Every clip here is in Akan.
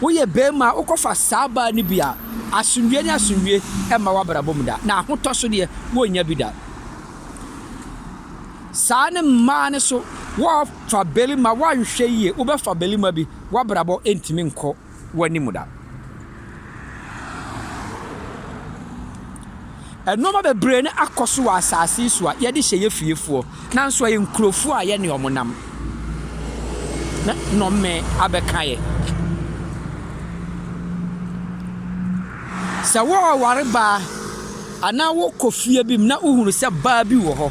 Woyɛ barima a, wokɔfa saa baa no bi a, asomdwoeɛ ne asomdwoeɛ mma w'abrabɔ mu da, na ahotɔ so deɛ, wonnya bi da. Saa ne mmaa no so, wofa barima, woanhwɛ yie, wobɛfa barima bi, w'abrabɔ ntumi nkɔ w'anim da. Nnoɔma bebree no akɔ so wɔ asaase yi so a yɛde hyɛ yɛ fiefoɔ nanso ɛyɛ nkurofoɔ a yɛne wɔn nam na nnɔme abɛka yɛ. Sɛ wɔreware baa anaa wokɔ fie bi mu na wohunu sɛ baa bi wɔ hɔ,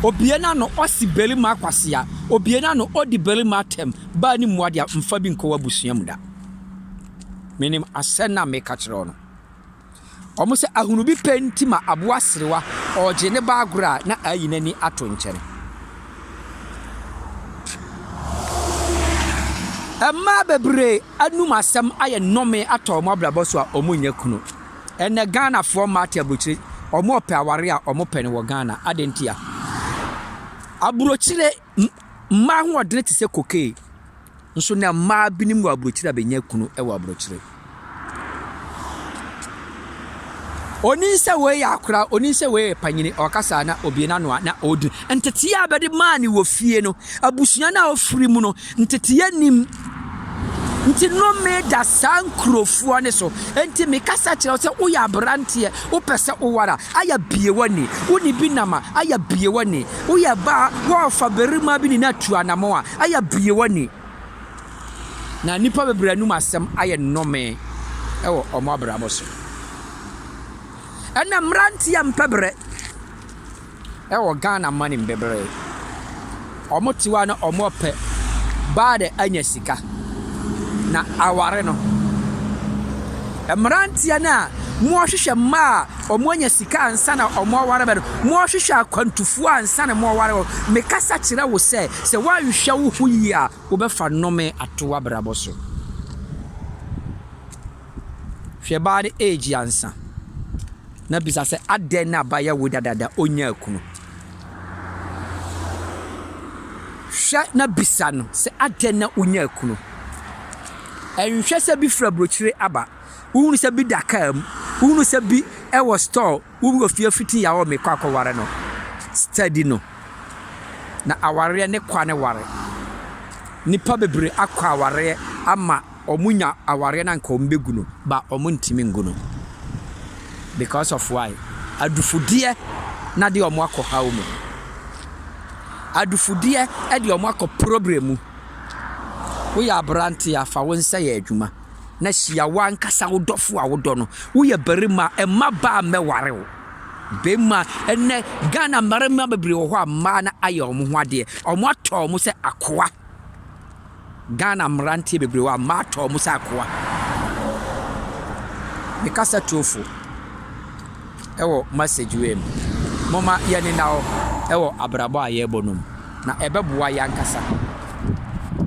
obie n'ano ɔsi barima akwasea, obie n'ano ɔdi barima atɛm, baa ne mmoa deɛ mfa bi nkɔ w'abusua mu da. Menim asɛm no a meka kyerɛ wo no. Wɔn sɛ ahunu bi pɛ nti ma aboa serewa ɔregye ne ba agorɔ a na ayi n'ani ato nkyɛn. Mmaa bebree anum asɛm ayɛ nnɔme atɔ wɔn abrabɔ so a wɔnyɛ kunu. Ɛnɛ Ghanafoɔ mmaa te aburokyire, wɔpɛ aware a wɔpɛ no wɔ Ghana. Adɛn ntia? Aburokyire. Mmaa ahoɔdene te sɛ kokee nso na mmaa binom wɔ aburokyire a bɛnya kunu wɔ aburokyire. Onim sɛ wei yɛ akora, onim sɛ wei yɛ panyini, ɔkasa na obie n'ano a na ɔredi. Nteteeɛ a bɛde maa ne wɔ fie no, abusua no a ɔfiri mu no, nteteeɛ nim. Nti nome da saa nkurofoɔ no so. Nti mekasa kyerɛ wo sɛ woyɛ aberanteɛ, wopɛ sɛ woware a, ayɛ bie w'ani. Wo ne bi nam a, ayɛ bie w'ani. Woyɛ baa, wɔrefa barima bi ne no atu anamɔ a, ayɛ bie w'ani. Na nnipa bebree anum asɛm ayɛ nome wɔ wɔn abrabɔ so. Ɛnna mmeranteɛ mpɛ berɛ. ɛwɔ Ghana mane mu bebree. Ɔmo te hɔ a na ɔmo pɛ baa de anya sika na aware no. Mmeranteɛ no a wɔhwehwɛ mmaa a ɔmo anya sika ansa na ɔmo aware bɛ no, wɔhwehwɛ akwantufoɔ ansa na ɔmo aware wɔn. Mekasa kyerɛ wo sɛ, sɛ woanhwɛ wo ho yie a, wobɛfa nnome ato w'abrabɔ so. Hwɛ baa no age ansa na bisa sɛ adɛn na ba yɛ wo dadaada onyaa kunu. Hwɛ na bisa no sɛ adɛn na onyaa kunu. Ɛnhwɛ sɛ bi fura brokyire aba, wohunu sɛ bi da kaa mu, wohunu sɛ bi wɔ store Wo wura fie fiti ya wɔ me kɔ akɔware no steady no na awareɛ ne kwa ne ware nipa bebree akɔ awareɛ ama ɔmo nya awareɛ na nka ɔmo bɛ gu no ba ɔmo ntimi ngu no because of why adufudeɛ na de ɔmo akɔ haw mu adufudeɛ ɛde ɔmo akɔ problem mu woyɛ aberanteɛ a fa wo nsa yɛ adwuma. na hyia w'ankasa wo dɔfo a wodɔ no. Woyɛ barima a, mma baa mmɛware wo. Bɛmma, ɛnnɛ Ghana mmarima bebree wɔ hɔ a mmaa no ayɛ wɔn ho adeɛ. Wɔatɔ wɔn sɛ akoa. Ghana mmeranteɛ bebree wɔ hɔ a mmaa atɔ wɔn sɛ akoa. Me kasa tuofo ɛwɔ message wei mu. Momma yɛnena hɔ ɛwɔ abrabɔ a yɛrebɔ no mu. Na ɛbɛboa yɛn ankasa.